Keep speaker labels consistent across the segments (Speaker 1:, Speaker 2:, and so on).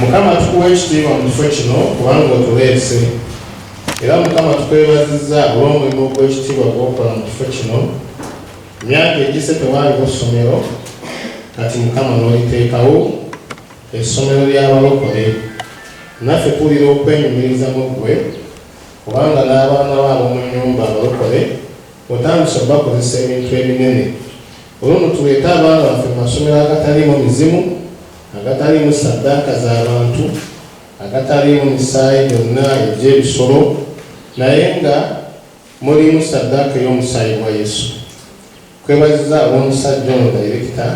Speaker 1: mukama tukuwa ekitiibwa mu kifo kino kubanga otuleese era mukama tukwebazizza olw'omulimu ogw'ekitiibwa gwokola mu kifo kino myaka egise tewaaliwo ssomero kati mukama n'oliteekawo essomero ly'abalokole naffe tuwulira okwenyumiriza mu ggwe kubanga n'abaana baabo mu nnyumba abalokole otandise obakozesa ebintu ebinene Olumu tuleete abaana baffe mu masomero agataliimu mizimu, agataliimu saddaaka za bantu, agataliimu misaayi gyonna egy'ebisolo, naye nga mulimu saddaaka ey'omusaayi gwa Yesu. Twebaziza ab'omusajja ono dayirekita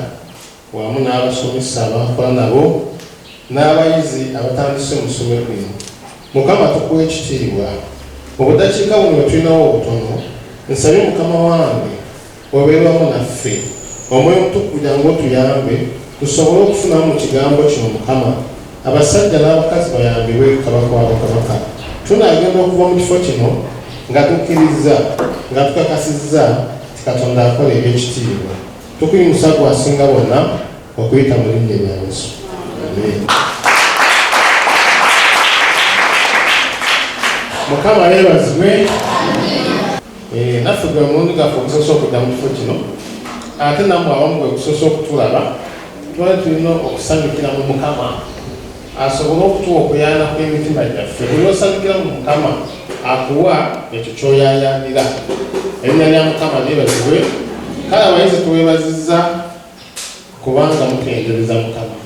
Speaker 1: wamu n'abasomesa abankola nabo n'abayizi abatandise mu ssomero lino. Mukama tukuwa ekitiibwa. Mu budakiika buno bwe tulinawo obutono, nsabye Mukama wange Obeera wamu naffe. Omwoyo Omutukuvu kugira ngu otuyambe tusobole okufunamu mu Kigambo kino, Mukama. Abasajja n'abakazi bayambibwe ku Kabaka wa bakabaka. Tunaagenda okuva mu kifo kino nga tukkirizza, nga tukakasizza nti Katonda akola eby'ekitiibwa. Tukuyimusa Ggwe Asinga Bonna, okuyita mu Linnya lya Yesu. Amiina. Mukama yeebazibwe. Eh, naffe gwe mulundi gaffe ogusoose okudda mu kifo kino ate namwe abamu gwe gusoose okutulaba twali tulina okusanyukira mu mukama asobole okutuwa okuyana kw'emitima gyaffe buli osanyukira mu mukama akuwa ekyo kyoyayanira erinnya lya mukama lyebazibwe kale abayizi tuwebaziza kubanga mutendereza mukama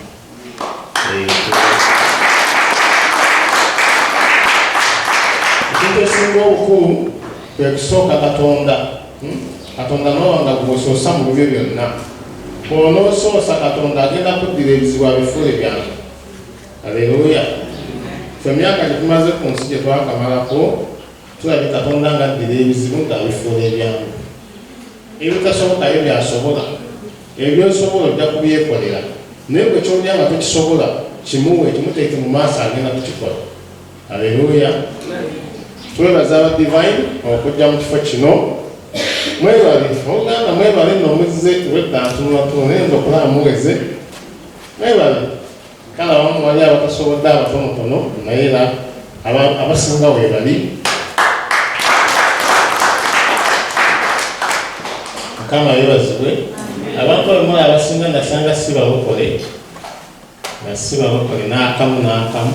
Speaker 1: ekintu esinga obukulu kwe kusooka katonda hmm? katonda nowanga gwosoosa mu bibyo byonna bwonosoosa katonda agenda kuddira ebizibu abifuule byange aleluya fe myaka gyetumaze ku nsi gyetwakamalako tulabe katonda nga addira ebizibu ngaabifuula ebyangu ebitasobokayo byasobola Ebyo by'osobola ojja kubyekolera. Naye gwe ky'olina nga tokisobola, kimuwe, kimuteeke mu maaso, agenda kukikola. Aleruuya! Twebaza aba Devine okujja mu kifo kino. Mwebale. Oluganda mwebale nno muzze, obwedda ntunulatunula naye nze okulaba muweze. Mwebale. Kale abamu wali abatasobodde abatonotono naye era abasinga webali mukama yebazibwe abantu abamula abasinga nasanga si balokole nga si balokole n'akamu n'akamu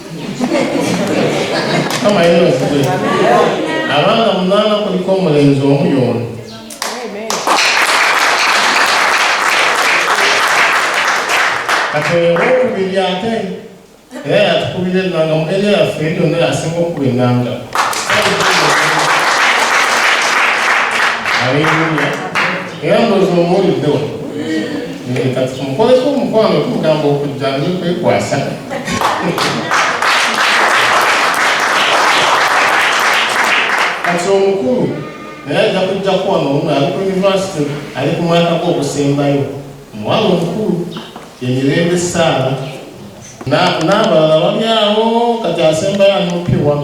Speaker 1: kama yena okugwe abanga munana kuliko omulenzi omu yono kati oyo owokubiri ate era yatukubira enanga mugeri yaffe eri yonna yasinga okukuba enanga aleluya era ndoza omuwulidde wano eh, kati tumukoleko omukwano tumugamba okujja nekwekwasa kati omukulu naye ajja kujja kuwano olumu ali ku univesity ali ku mwaka gwe ogusembayo omuwala omukulu yemirembe saala n'abalala bali awo kati asembayo anopiwa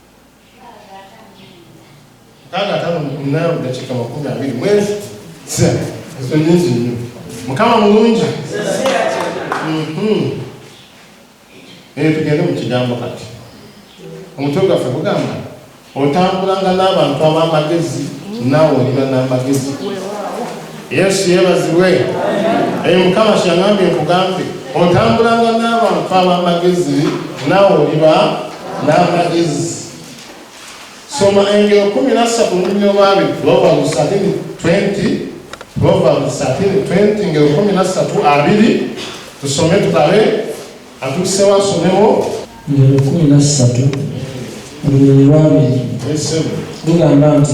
Speaker 1: mukaaga ataano mukunaana mudakiika makumi abiri mwezi ezo nyingi nnyo mukama mulungi mhm. naye tugende mu kigambo kati omutwe gwaffe gugamba otambulanga n'abantu ab'amagezi naawe olina n'amagezi Yesu yebazibwe. Eyo mukama kyeyangambye nkugambye otambulanga n'abantu ab'amagezi naawe oliba n'amagezi soma engero kumi nassatu olulimi olwabi proverbs 1320 proverbs 1320 engero kumi nassatu abiri tusome tulabe atuusewo asomewo engero kumi
Speaker 2: nassatu olulimi lwabiri lugamba nti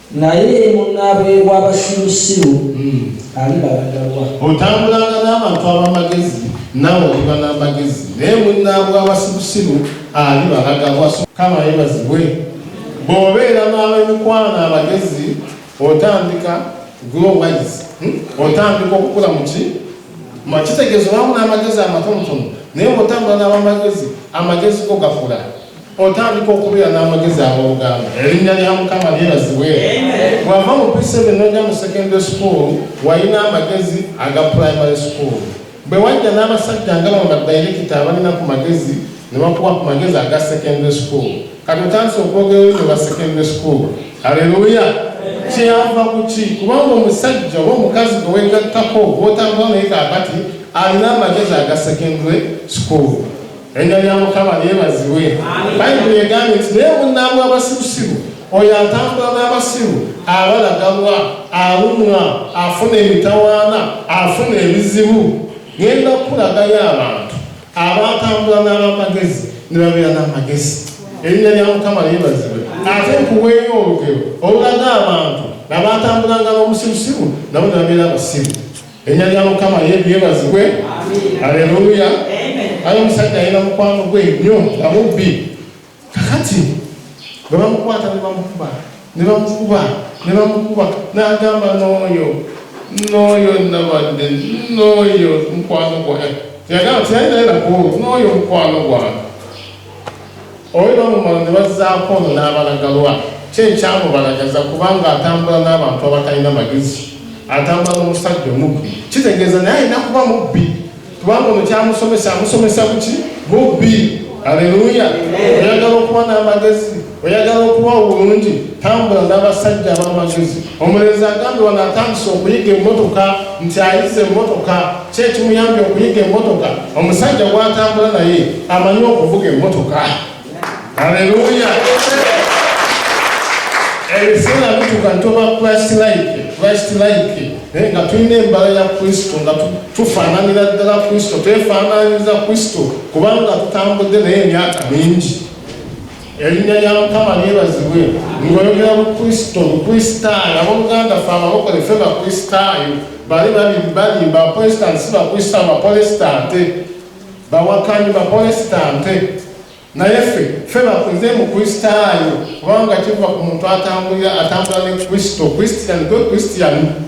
Speaker 2: Naye munnaabwe w'abasirusiru hmm. alibalaga wa? Otambulanga
Speaker 1: n'abantu ab'amagezi, naawe oliba n'amagezi, naye munnaabwe w'abasirusiru alibalaga wa? Kama yebazibwe. Bw'obeera n'ab'emikwano abagezi, otandika grow wise, hmm? otandika okukula mu ki? Kitegeeza olwamu n'amagezi amatonotono, naye bw'otambula n'ab'amagezi, amagezi go gakula. otandika okubeera n'amagezi ag'oluganda erinnya lya mukama lyebazibwe bwava mu p7 noja mu secondary school walina amagezi aga primary school bwe wajja n'abasajja nga bano badirekita abalina ku magezi ne bakuba ku magezi aga secondary school kati otandise okwogerero ne ba secondary school aleluya kyeyava kuki kubanga omusajja oba omukazi gwe wegattako gwotambula naye kakati alina amagezi aga secondary school Erinnya lya Mukama lyebazibwe. Bayibuli egambye nti naye munnabwe abasirusiru oyo atambula n'abasiru abalagalwa alumwa afuna emitawaana afuna ebizibu ngenda kukulagayo abantu abatambula n'abamagezi ne babeera n'amagezi erinnya lya mukama lyebazibwe ate nkuweeyo olugero olulaga abantu nabatambulanga n'omusirusiru nabo ne babeera abasiru Erinnya lya Mukama lyebazibwe. Aleluya. Ayo omusajja alina mukwano gwe nnyo nga mubbi. Kakati bwe bamukwata ne bamukuba ne bamukuba ne bamukuba n'agamba n'oyo n'oyo nabadde n'oyo mukwano gwange yagamba tiyalina era n'oyo mukwano gwange Oyo bamumala ne bazzaako ono n'abalagalwa. Kyo ekyamubalagaza kubanga atambula n'abantu abatalina magezi, atambula n'omusajja omubbi. Kitegeeza naye alina kuba mubbi kubanga ono kyamusomesa amusomesa kuki? Bubbi. Aleluya! Oyagala okuba n'amagezi? oyagala okuba obulungi tambula n'abasajja ab'amagezi omulenzi agambe wano atandise okuyiga emmotoka nti ayize emmotoka kyekimuyambye okuyiga emmotoka omusajja gwatambula naye amanyi okuvuga emmotoka aleluya ebiseera bituka ntoba christ like christ like eh, nga tulina embala ya kristo nga tufaananira ddala kristo twefaananyiriza kristo kubanga tutambudde naye emyaka mingi Erinnya lya Mukama lyebazibwe. Ng'oyogera ku Kristo, Mukristaayo. Ab'oluganda ffe Abalokole ffe Bakristaayo. Bali balimba, Abaprotestanti si Bakristaayo, Bapolesitante, bawakanyi, Bapolesitante. Naye ffe, ffe nze Mukristaayo, kubanga kiva ku muntu atambulira, atambula ne Kristo. Kristian, gwe Kristian.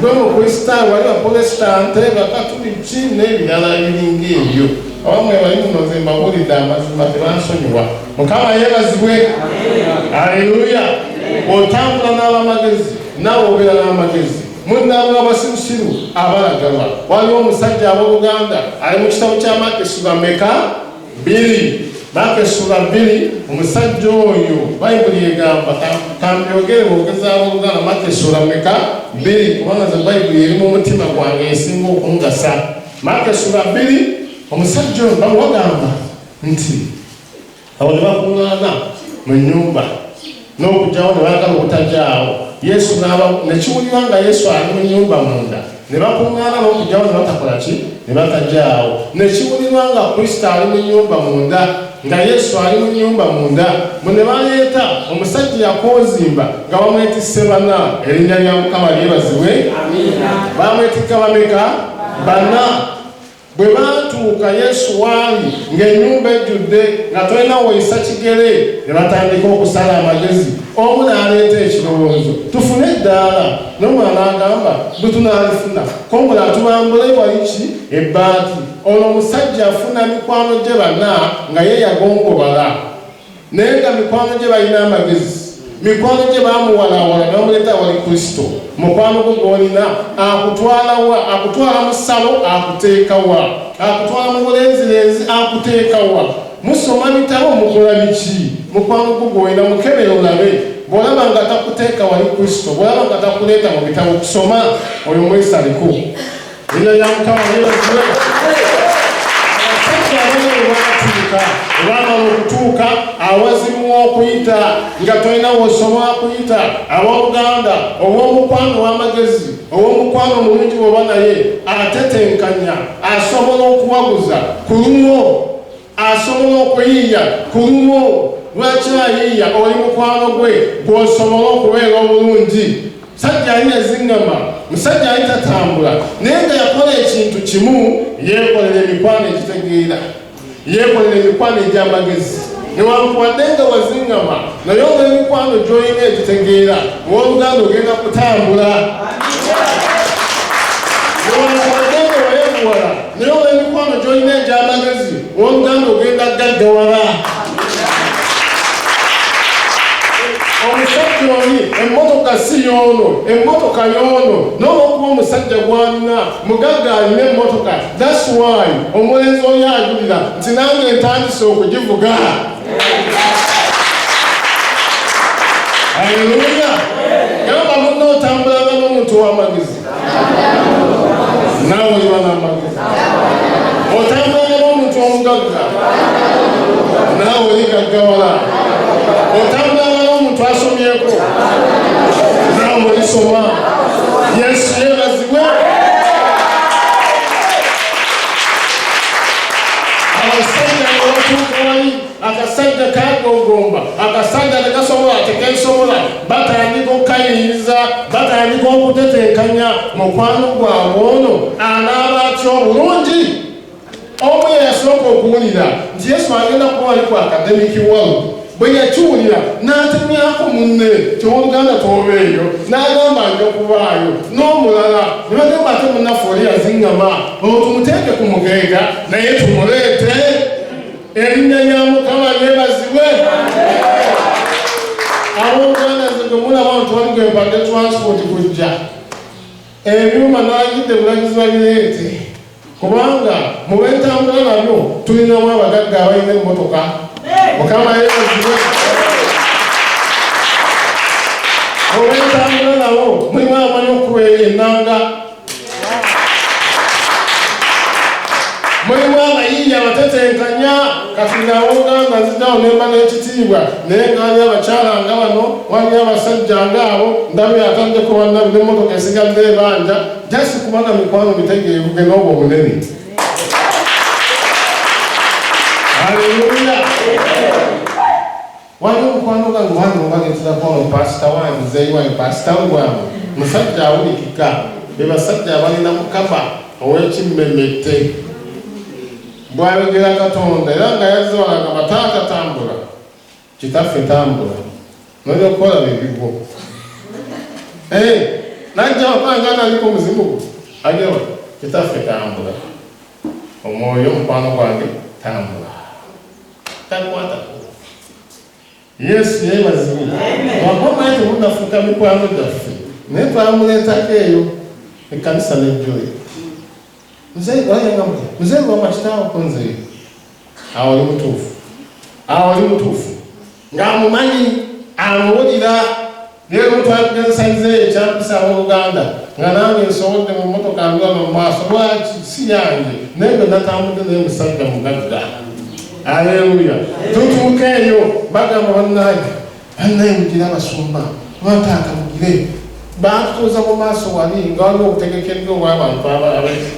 Speaker 1: gwe mukristaayo wali bapolesitante bakatuliki n'ebirala ebiringa ebyo abamwe bali muno nze mbabulidde amazima tebansonyiwa mukama yebazibwe aleluya otambula n'abamagezi nawe obeera n'amagezi munnaabwe abasirusiru abalagalwa waliwo omusajja ab'oluganda ali mu kitabo kya makesi bameka Bbiri, Maaka essula bbiri, omusajja oyo bayibuli egamba kambyogere bwogezaawo oluganda Maaka essula meka bbiri kubanga ze bayibuli eri mu mutima gwange esinga okungasa Maaka essula bbiri, omusajja oyo bawagamba nti awo ne bakuŋŋaana mu nnyumba n'okugyawo ne baagala obutagyawo yesu nekiwulira nga yesu ali mu nyumba munda ne bakuŋŋaana n'okugyawo ne batakola ki ne batagyawo nekiwulirwa nga kristo ali mu nyumba munda nga yesu ali mu nyumba munda mu ne baleeta omusajja yakonzimba nga bamwetisse bana erinnya lya mukama lyebazibwe bamwetikka bameka bana Bwe baatuuka Yesu w'ali ng'ennyumba ejjudde nga tolina woyisa kigere, ne batandika okusala amagezi. Omu n'aleeta ekirowoozo, Tufune eddaala. N'omulala agamba, Bwe tunaalifuna, k'omulala tubambule wali ki? Ebbaati. Olwo omusajja afuna mikwano gye bana nga ye yagongobala. naye nga mikwano gye balina amagezi mikwano gye bamuwalaawala nebamuleeta wali kristo mukwano gwo gwolina akutwalawa akutwala mu ssalo akuteekawa akutwala mu bulenzirenzi akuteekawa musoma bitabo mukola biki mukwano gwo gwolina mukebere olabe bwolaba nga takuteeka wali kristo bwolaba nga takuleeta mu bitabo kusoma oyo mwesaliko Ina ya mukama yeye mzuri. Sasa wewe wakatuka, wana okutuka awazimu okuyita nga tolina wosoma kuyita abauganda owomukwano wamagezi owomukwano mulungi bwoba naye atetenkanya asobola okuwaguza kulumwo asobola okuyiiya ku lulwo lwaki ayiiya oli mukwano gwe gwosobola okubeera obulungi musajja ali yazingama musajja ali tatambula naye nga yakola ekintu kimu yekolera emikwano egitegeera yekolera emikwano egy'amagezi newankubadde nga wazingama naye oba emikwano gyolina egitegeera owoluganda ogenda kutambula naye olw'emikwano gy'olina egy'amagezi oluganda ogenda gaggawala omusajja oli emmotoka si yoono emmotoka yoono n'olwokuba omusajja gwalina mugagga alina emmotoka thats why omulenzi oli ajulira nti nange ntandise okugivuga aleluya gamba munna otambulanga n'omuntu w'amagezi naawe oliba n'amagezi otambula ne b'omuntu omugagga naawe oligaggawala otambula ne b'omuntu asomyeko naawe olisoma yesu yebazibwe abasajja ne batuuka wali akasajja kagogomba akasajja tegasobola tekesobola batandika okukayinza batandika okutetenkanya mukwano gwabwe ono anaaba atya obulungi omu yeyasooka okuwulira nti yesu agenda kuba ali ku akademiki walu bwe yakiwulira n'atemyako munne kyowoluganda twobeeyo n'agamba nja kubaayo n'omulala ne bagamba ate munnaffe oli yazingama otumuteeke ku mugeega naye tumuleete erinnya lya mukama lyebazibwe ab'oluganda nze gwe mulaba ntwali gwe mpade transport kujja ebyuma nagidde bulagizi babireete kubanga mubentambula nabyo tulinamu abagagga abalina emmotoka mukama yebazibwe mubentambula nabo mulimu amanyi okuba enanga mulimu abayimbi abatetenkanya kati ngawogamba nzitawo nemba n'ekitiibwa naye ngani abakyala nga bano wani abasajja ngaabo ndabye atandde kubanna nemotoka esigadde ebanja jasi kubanga mikwano mitegeevu ge n'obwo obunene aleluya Waliwo mukwano gwange wange mubagenzira kuba mu pasita wange muzeeyi wange pasita ngwange musajja awulikika be basajja abalina mukama ow'ekimmemette bwayogera katonda era nga yazze walaga bataata tambula kitaffe tambula nolya okukola bebigwo eh, najja wakanga naliko omuzimu gwo ajawa kitaffe tambula omwoyo omukwano gwange tambula takwatako yesu yebazibwe wakomaye temunafuka mikwano gyaffe naye twamuleetako eyo ekkanisa nejjoyo mzee wama kitaawo konzeyo awo oli mutuufu awo oli mutuufu ng'amumanyi amuwulira Naye lwetwagezesa nze ekyampisa abooluganda nga nange nsobodde mu mmotoka ndwama mu maaso lwaki si yange naye bwe natambudde naye musajja mugagga aleluya tutuuka eyo bagamba bannange bannaye mugire abasumba lwataata mugire baatutuuza mu maaso wali nga waliwo obutegekeddwa obwabantu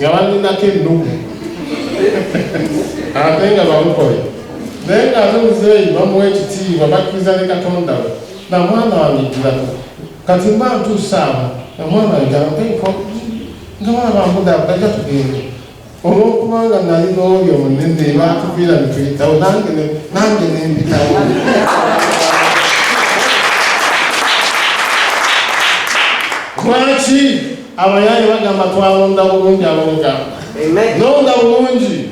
Speaker 1: nga baninako ennugu ate nga bamukole naye nga ate muzeeyi bamuwa ekitiibwa bakkiriza ne katonda we na mwana wange ejjirako kati mba ntuusaamu na mwana wange ampeko nga bana bambudamu gajja tugende olwokubanga nali n'oyo munene baatuviira netuyitawo nange nange nempitawo lwaki abayaaye bagamba twalonda bulungi alonga nonda bulungi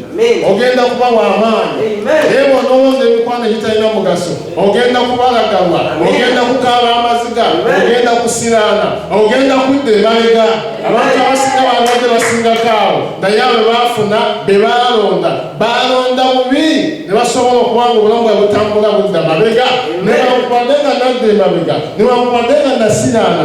Speaker 1: ogenda kuba wamaanyi naye bwonowoza emikwano egitalina mugaso ogenda kubalagalwa ogenda kukaaba amaziga ogenda kusiraana ogenda kudda emabega abantu abasinga balwadde basingakaawo naye abo bafuna be balonda balonda bubi ne basobola okuba nga obulamu bwa butambula budda mabega newankubadde nga nadda emabega newankubadde nga nasiraana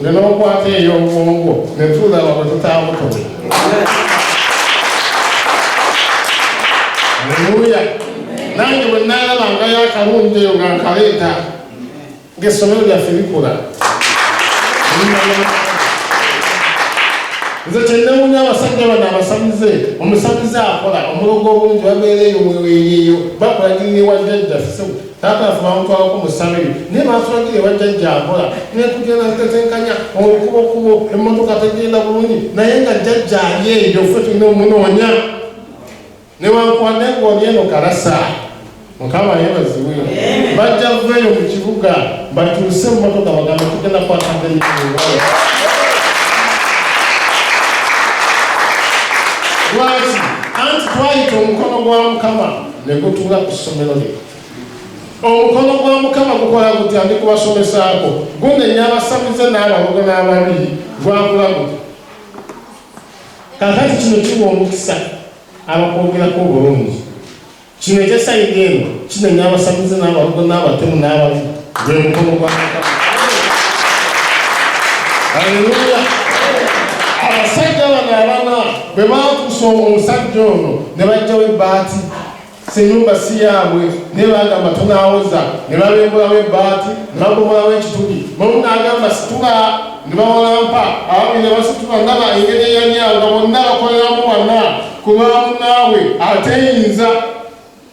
Speaker 1: Ne n'okwata ey'obwongo ne tulaba bwe tutaabutobe. Aleluya. Nange bwe nnaalabangayo akalungi eyo nga nkaleeta ng'essomero lyaffe likola. Nze kyennewunya abasajja bano abasamize omusamize akola omulogo obungi babeera eyo mweweeyeeyo bakulagirira ewa jjajjaffe Taata nfuba amutwalako mu ssabiri naye baatulagira ewa jjajja akola nekugenda ntetenkanya olukubokubo emmotoka tegenda bulungi naye nga jjajja ali eyo fe tulina omunoonya newankubadde ngoli eno kalasa mukama yebaziwe bajja veeyo mu kibuga batuuse emmotoka bagamba tugenda kwataganya lwaki anti twayita omukono gwa mukama ne gutuula ku ssomero lye. Omukono gwa Mukama gukola gutya ndi kubasomesaako? Gunenya abasamize n'abalogo n'ababi, gwakula gutya? Kaakati kino kiwa omukisa abakwogerako obulungi. Kino eky'esayidi eno kinenya abasamize n'abalogo n'abatemu n'ababi. Haleluya! Abasajja bano abana bwe baakusa omusajja ono ne bajjawo ebbaati senyumba si yaabwe naye bagamba tunaawoza ne babembulawo ebbaati ne babomolawo ekituli nomu naagamba situla ne bawalampa ababi ne basitula ndaba engeri eyanyanga bonna bakoleramu wana ku lwamunaabwe ateyinza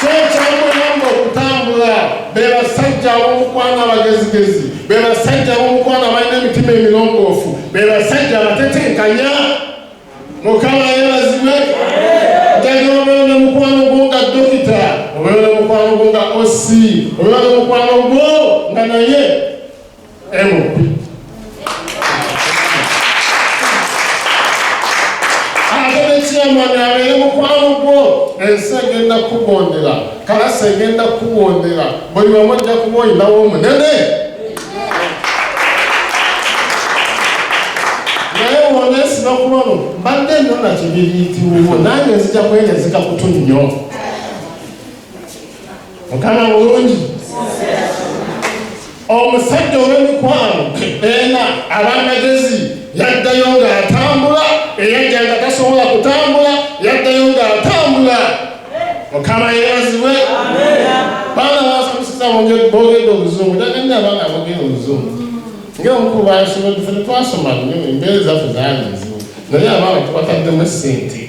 Speaker 1: kyekyamuyamba okutambula be basajja ab'omukwano abagezigezi be basajja ab'omukwano abalina emitima emirongoofu be basajja abatetenkanya mukama yebazibwe jajobabeo ne mukwano gwo nga dokita obeo ne mukwano gwo nga osi obeo ne mukwano gwo nga naye ensi egenda kukugondera kalasi egenda kukugondera buli wamu ojja kuba oyinawo omunene naye wonesima kulono mbadde nona kibiriitiwuwo nange nzija kwenezika kutu nnyo mukama mulungi omusajja ow'emikwano ena abamagezi yaddayo ng'atambula eyajja nga tasobola kutambula yaddayo ng'atambula mukama yeebazibwe baana basamusiza bogedde obuzungu taganna abaana abogera obuzungu ngaomukulu basobola fe twasoma embeera zaffe zaali nzibu naye abaana tubataddemu sente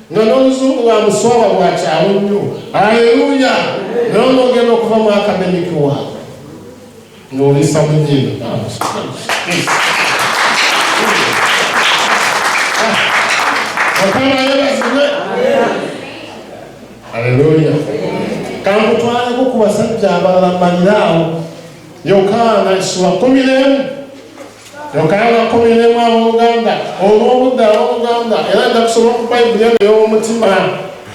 Speaker 1: nga n'oluzungu lwa muswaba lwa kyawo nnyo aleluya naye onogenda okuva mu akademiki wa ng'olisa mu nyindo okamalebazibe aleluya kankutwaleko ku basajja abalala maliraawo yokaana esula kumiremu Kyoka yanakomeremu ab'oluganda olw'obudde ab'oluganda era nja kusoma ku Bayibuli eno ey'omutima.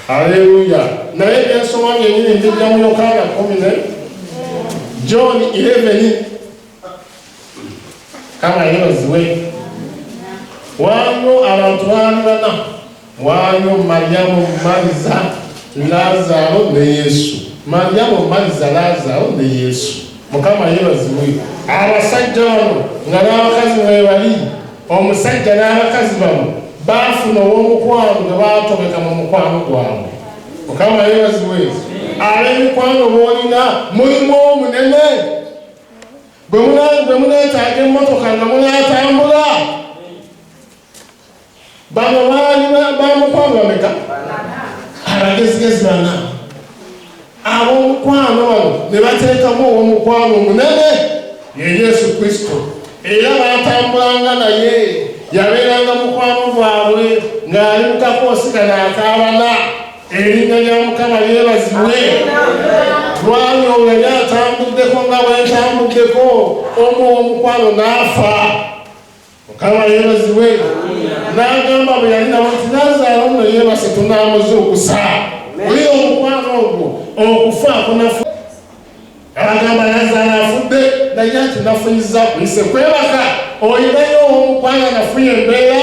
Speaker 1: Aleluya! Naye byensoma byenyini mbijja mu Yokaana kumi ne John 11. Kama yebaziwe. Waliwo abantu baali bana. Waayo Malyamu Maliza Laazaalo ne Yesu. Malyamu Maliza Laazaalo ne Yesu. Mukama yeebazibwe. Abasajja bano nga n'abakazi mwebali, omusajja n'abakazi bano baafuna ow'omukwano gwe baatobeka mu mukwano gwabwe. Mukama yeebazibwe. Ab'emikwano b'olina mulimu omunene bwe muneetaaga emmotoka nga munaatambula bano baali bamukwano bameka abagezigezi bana ab'omukwano bano ne bateekamu ow'omukwano omunene ye yesu kristo era baatambulanga naye yabeeranga mukwano gwabwe ng'ali mukakoosika naakaabana erinnya lya mukama lyebazibwe lwali olwo yali atambuddeko nga bwentambuddeko omu ow'omukwano n'afa mukama yeebazibwe n'agamba bwe yali nabo nti nazaala ono yeebase tunaamuze okusa oli omukwano ogwo okufa kunafu agamba nazaala afudde naye ati nafuyiza kuyise kwebaka olinayo omukwano nafuye embeera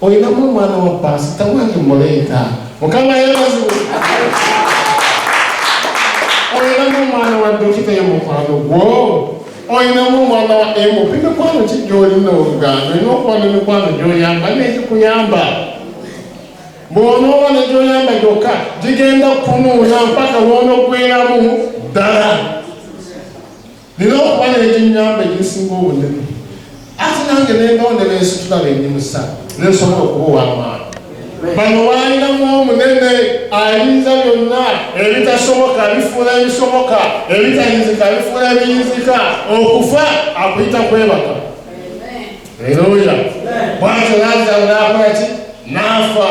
Speaker 1: Olinamu omwana wa paasita wange mmuleeta. Mukama yeebazibwe. Olinamu omwana wa dokita ye mukwano gwo. Olinamu omwana wa emu bimikwano ki gy'olina oluganda olina okuba n'emikwano gy'oyamba n'egikuyamba. Bw'onooba ne gy'oyamba gyokka gigenda kunuuna mpaka lw'onoggweramu ddala. nina okuba n'eginyamba egisinga obunene ate nange nembawo ne bensitula bendi musa nensobola okuba ow'amaanyi bano waalinamu omunene ayinza byonna ebitasoboka bifuula ebisoboka ebitayinzika bifuula ebiyinzika okufa akuyita kwebaka eroya bwatyo lazaalo n'akola ki n'afa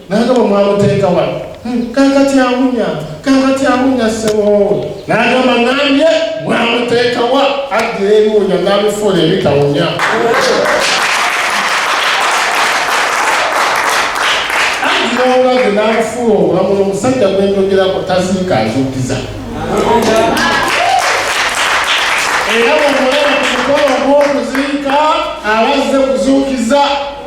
Speaker 1: naye nga bwemwamuteeka wano hmm, kakati awunya kakati awunya seboowe nagamba nambye mwamuteekawa addira ebiwunya nabifuula ebitawunya addira obulazi nabifuula obulamu nomusajja gwenjogerako taziika azukiza era bwemulaba ku mukolo ogwokuziika abazze kuzuukiza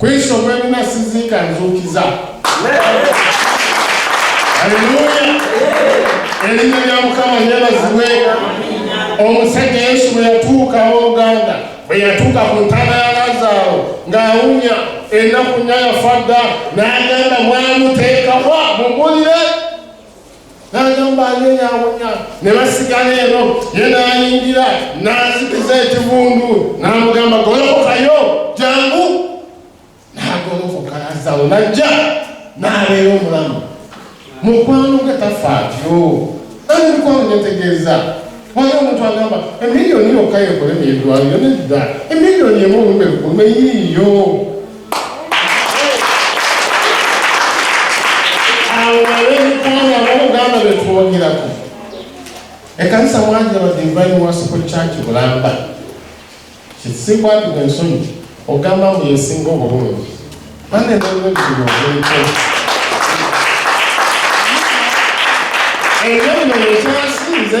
Speaker 1: Kristo mwemuma siziika nzuukiza. Aleluya! Erinnya lya Mukama yeebazibwe. Omusajja Yesu bwe yatuuka ow'oluganda, bwe yatuuka ku ntaana ya Lazaaro ng'awunya ennaku nnya yafa dda, n'agamba mwamuteekawa mumulire n'agamba aneenyawunya ne basigala eno ye n'ayingira n'azikiza ekivundu n'amugamba golokokayo jangu n'agolokoka azalo najja n'abeera omulamu mukwano gwe tafa atyo nani mukwano netegeeza wali omuntu agamba emiliyoni yokka yekolemu edwaliro nedda emiliyoni emu olumbe lukulu eyiiyo awo balebikanga abaluganda betwogerako ekanisa mwanja badivine wasuko church bulamba kisikwatibwa ensonyi ogamba mbu yesinga obulungi anenalwebulungi ekyo bino yekyasinze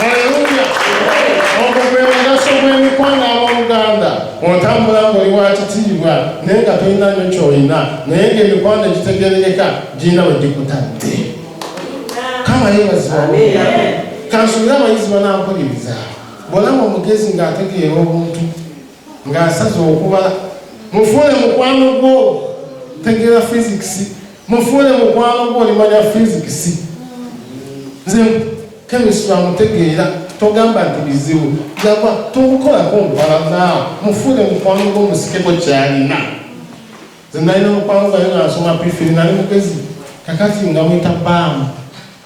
Speaker 1: Haleluya! Ogwo gwe mugaso gw'emikwano ab'oluganda. Otambula ng'oli wa kitiibwa naye nga tolina nnyo ky'olina naye ng'emikwano egitegeerekeka girina we gikutadde. Kama yeebazibwa. Kansuubire abayizi banampuliriza. Bw'olaba omugezi ng'ategeera obuntu ng'asaze okuba mufuule mukwano gwo tegeera fizikisi mufuule mukwano gwo olimanya fizikisi nze kemisitry amutegeera togamba nti bizibu yagwa tomukolako nkubalanaawo mufuule mukwano gwo musikeko kyalina nze nalina mukwano gayo nga nsoma pifiri nali mugezi kakati nga mwita baamu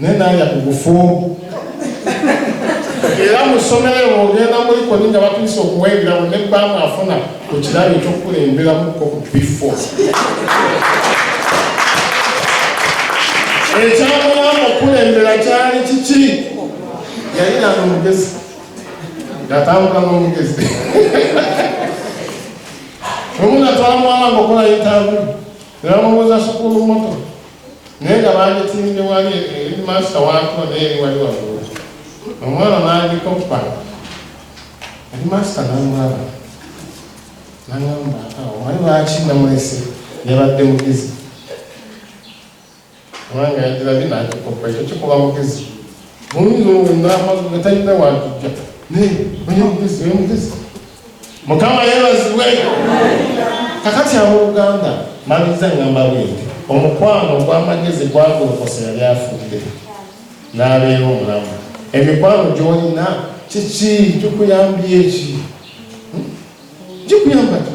Speaker 1: naye nalya ku bufumbo era mu ssomero eyo ogenda mulikoni nga batuusa okuwebirawo ne bbaamu afuna ku kirabo ekyokukulemberamuko ku bifo ekyamulamu okukulembera kyali kiki yali nano omugezi ngatambula n'omugezi omu natwala muwala nga okola yetabu Namubuuza sukulu moto naye nga baagitimbye wali eri maasita waako naye eri wali waggulu omwana n'agikoppa eri maasita n'amulaba n'agamba wali lwaki namulese yabadde mugizi Mwanga yagirabye n'akikoppa ekyo kikola mugezi muyinza owenamazi nga talina wakijja naye oye mugezi oye mugezi mukama yebazibwe kakati abooluganda maliza ngamba bwete omukwano ogw'amagezi gwagolokosa yali afudde n'abeera omulamu emikwano gyolina kiki gikuyambye eki hmm? gikuyamba ki